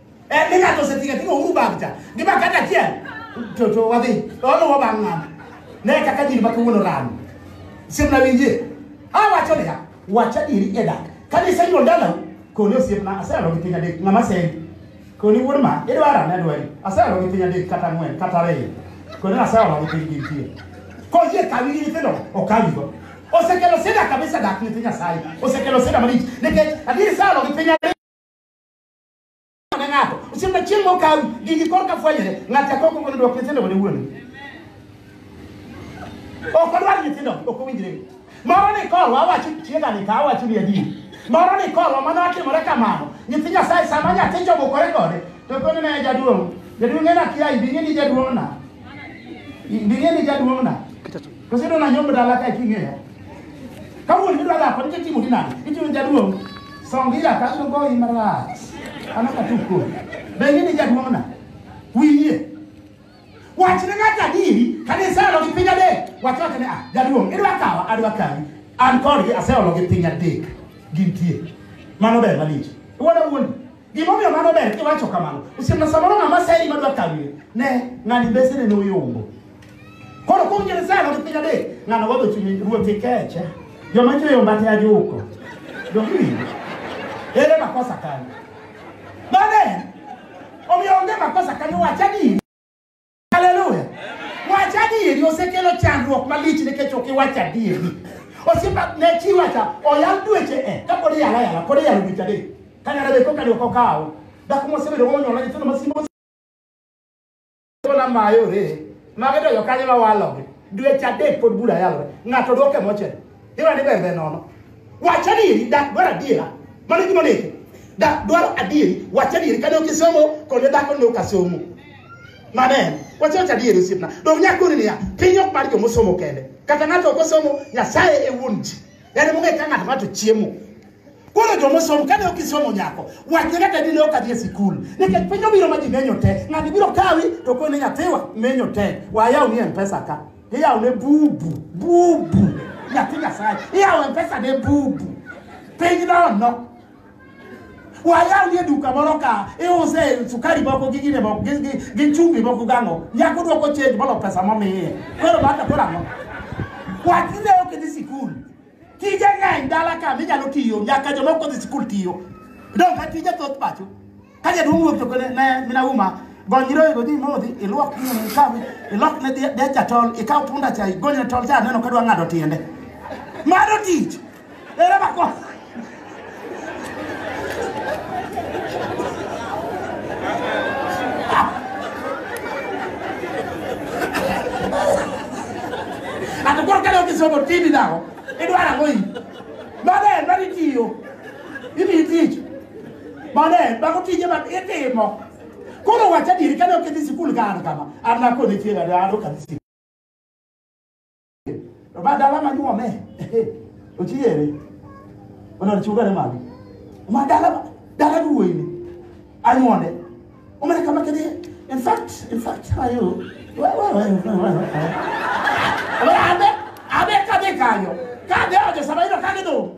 Speaker 2: Eh, ni ng'ato osetinga tinga uru bagcha gi bakata achiel to to wadhi oluwo bang' ng'ato ne kaka nyiri makawuono rano simna winjie awacho niya wach adieri e dak kane iseyudo dalau koni osiepna aseyalo gi piny adek ng'ama sendi koni wuod ma idwara ne dwari aseyalo gi piny adek kata ang'wen kata ariyo koni aseyalo gi piny gintie koyie kawi gi nyithindo okawigo osekelo sida kabisa dak nyithi nyasaye osekelo sida malich nikech adieri sayalo gi piny adek ne ng'ato osiepna chieng' mokawi gigi korka fwenyore ng'ato akoko kono dwok nyithindo wene wuon ok odwar nyithindo ok owinjre moro ni korwa awacho tiega ni ka awacho ni adier moro ni korwa mano atimore kamano nyithi nyasaye sama nyathi jobukore kode to kono ne jaduong' jaduong' en akiya ibing'e ni jaduong' na ibing'e ni jaduong' na Koso idwa nanyombo dala ka king'eya. Ka wuon midwa dhako nitie timo dinani. Itimo jaduong'. Song ira ka abiro goyi marach. An ok atuk kodi. Be ing'e ni jaduong'na? Wiye. Wachne ng'ato adieri kane iseolo gi piny adek. Wach wachne ah jaduong' idwa kawa adwa kawi. An kodgi aseolo gi piny adek. Gintie. Mano ber malich. Iwuoda wuondi. Gimomiyo mano ber kiwacho kamano. Osiepna samoro ng'ama seri madwa kawire. Ne, ng'ani mbesene ne oyombo. Koro kuom Nyasaye no piny adek, ng'ano wadho chunye ruoth ikeche. Joma chweyo mbate ajuko. Dogi. Ere makosa kanyo. Bane, omiyo onge makosa kanyo wacha ni Haleluya. Wach adieri osekelo chandruok malich nikech ok iwach adieri. Osiepa ne chi wacha oyal dweche e ka pod iyala yala pod iyalo dweche adek. Ka nyara be koka dwoko kawo. Dhako mosebedo monyola nyithindo masimo na mayore. Mage to jokanyo ma walogi. Dweche adek pod bura yalore. Ng'ato dwoke mochel. Irani bembe nono. Wacha ni dak dwara diera. Mano gima neke. Dak dwara adieri. Wacha ni kane okisomo kone dak ne okasomo. Manen. Wacha wacha dieri sipna. Dog nyako ni ya. Pinyo kpari jomo somo kende. Kata nato okosomo nyasaye e wunji. Yani munga ikanga nato chiemo. Koro jomo somo kane okisomo nyako. Wacha kata dine okadie sikul. Neke pinyo biro majinenyo te. Ngani biro kawi to kone nyathiwa menyo te. Waya unie mpesa ka. Iya ne bubu, bubu. Ya ti nyasaye. Iya we pesa ne bubu. Piny na ono. Waya uye duka moro ka iuse sukari moko gi gine moko gi- gi gi chumbi moko gang'o. Nyako dwoko change bolo pesa momiye. Koro baka pora ng'o. Wach ne ok dhi sikul. Tije ng'eny dala ka minyalo tiyo nyaka jomoko dhi sikul tiyo. Dong ka tije thoth pacho. ka jaduong' wuok to kone ne mina uma gony nyiroyego dhi modhi ilwok nyini ikawi ilok ne dhi- dech jatol ikaw punda cha igonyne tol cha aneno kadwa ng'ado tiende mano tich ere mako ato koro kane okisomo tini dago idwaro ang'o i mano en mani tiyo Imiyi tich. Maler, mago tije ma itimo. Koro wach adieri kane ok idhi sikul ka an kama, an nakone chieng' ade an ok adhi sikul. To ma dala manyuome, ochiere. Onar chugane magi. Ma dala, dala duwuoyi ni. Anyuone. Omane kama kidhi, in fact, in fact, how are you? Well, well, well, well, well, well. Abe, abe kadhi kanyo. Kadhi ojo sama ino kadhi dong'.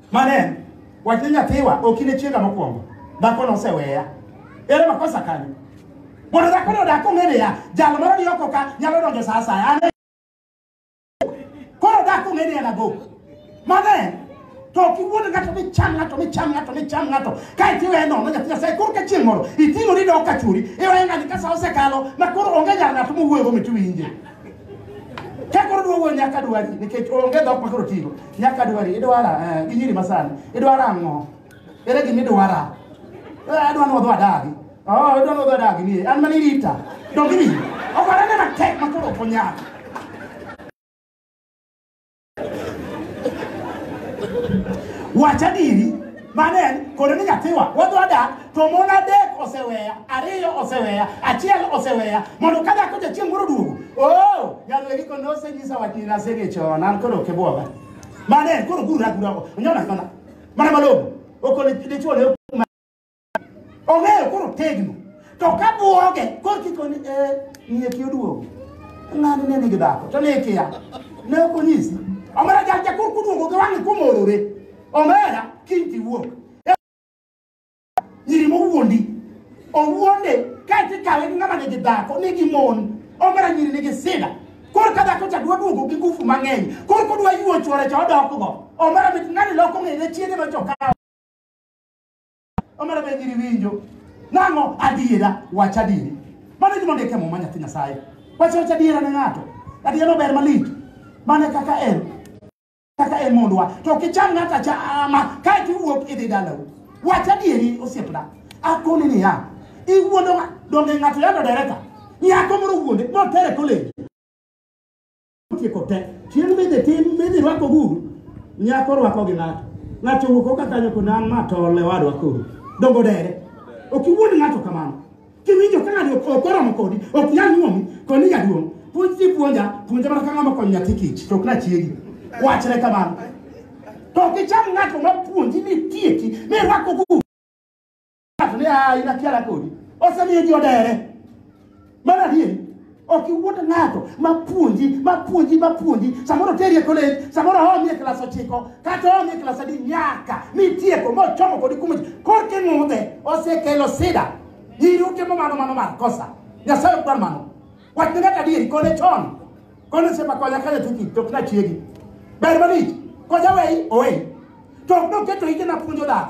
Speaker 2: Mano en wach ni nyathiwa ok in e chiega mokwongo. Dhako noseweya. Ere makosa kanyo? Mondo dhako no dak ong'e niya, jal moro ni oko ka nyalo donjo sa asaya. An e- Koro dhako ong'e ni en agoko. Mano en to ok iwuond ng'ato micham ng'ato micham ng'ato micham ng'ato kae to iweye nono nyathi nyasaye koro ka chieng' moro iting'ori dok ka churi iweye ng'ani ka sa osekalo ma koro onge nyar ng'ato mowuoyogo mit winje Ka koro duogo nyaka dwari nikech onge dhok ma koro tigo. Nyaka dwari idwara eh, gi nyiri masani. Idwara ang'o? Ere gima idwara? Eh, Adwa ni wadho adagi. Oh, adwa ni wadho adagi ni. An mani rita. Donge ni. Okwara ne matek ma koro ok onyal. wach adiri mano en koro ni nyathiwa wadwa dak to mon adek oseweya ariyo oseweya achiel oseweya mondo ka dhako jachieng' moro duogo o nyalwegi ko nosenyisa wach ni nasege chon an koro ok ibwoga mano en koro guragurago onyona nyona mana malong'o okone dichuo ne ong'eyo koro tegno to ka bwoge koro kikoni e eh, ng'iye ki oduogo ng'ani ne nigi dhako to ne ikiya ne ok onyisi omera jal jakor kuduogo gi wang'e kumorore omera kiny tiwuok nyiri mowuondi owuonde kae tikawe gi ng'ama nigi dhako nigi mon omera nyiri nigi sida koro ka dhako cha dwa duogo gi ngufu mang'eny koro kodwa yuo chwore cha odokgo omera mit ng'ani loko ng'ene chiege nochokawo omera be giri winjo nang'o adiera wach adieri mano gima ondik e muma nyathi nyasaye wach wach adiera ne ng'ato adiera no ber malich mane kaka en kaka en mondwa to kicham ng'ato achama kae tiwuok idhi dalau wach adieri osiepna akoni niya iwuondo ng'a- donge ng'ato yando dereka nyako moro wuonde motere koleji Tieko te. Chieng' midhi tim midhi rwako guru. Nyako rwako gi ng'ato. Ng'ato wuok oka kanyo kod an ma tol ne wadwa koro. Dongo dere. Ok iwuond ng'ato kamano. Kiwinjo ka ng'ato ok oromo kodi, ok nyal nyuomi, koni jaduong'. Puonj ji puonja, puonja mana ka ng'ama konyo nyathi kich, to ok na chiegi. Wachre kamano. To ok icham ng'ato ma puonji ni tieki, ni rwako guru. ng'ato ni a in akiara kodi osemiyo ji odere mar adier ok iwuond ng'ato mapuonji mapuonji mapuonji samoro teri e kolej samoro omi e klas ochiko kata omi e klas adi nyaka mitieko mochomo kodi kumoji korka ing'udhe osekelo sida nyiri utimo mano mano mar kosa nyasaye ok dwar mano wach ne ng'ato adieri kone chon kone sepa konya kanya tuki to ok nachiegi ber malich konya wei owei to ok noketo ite napuonjo dhako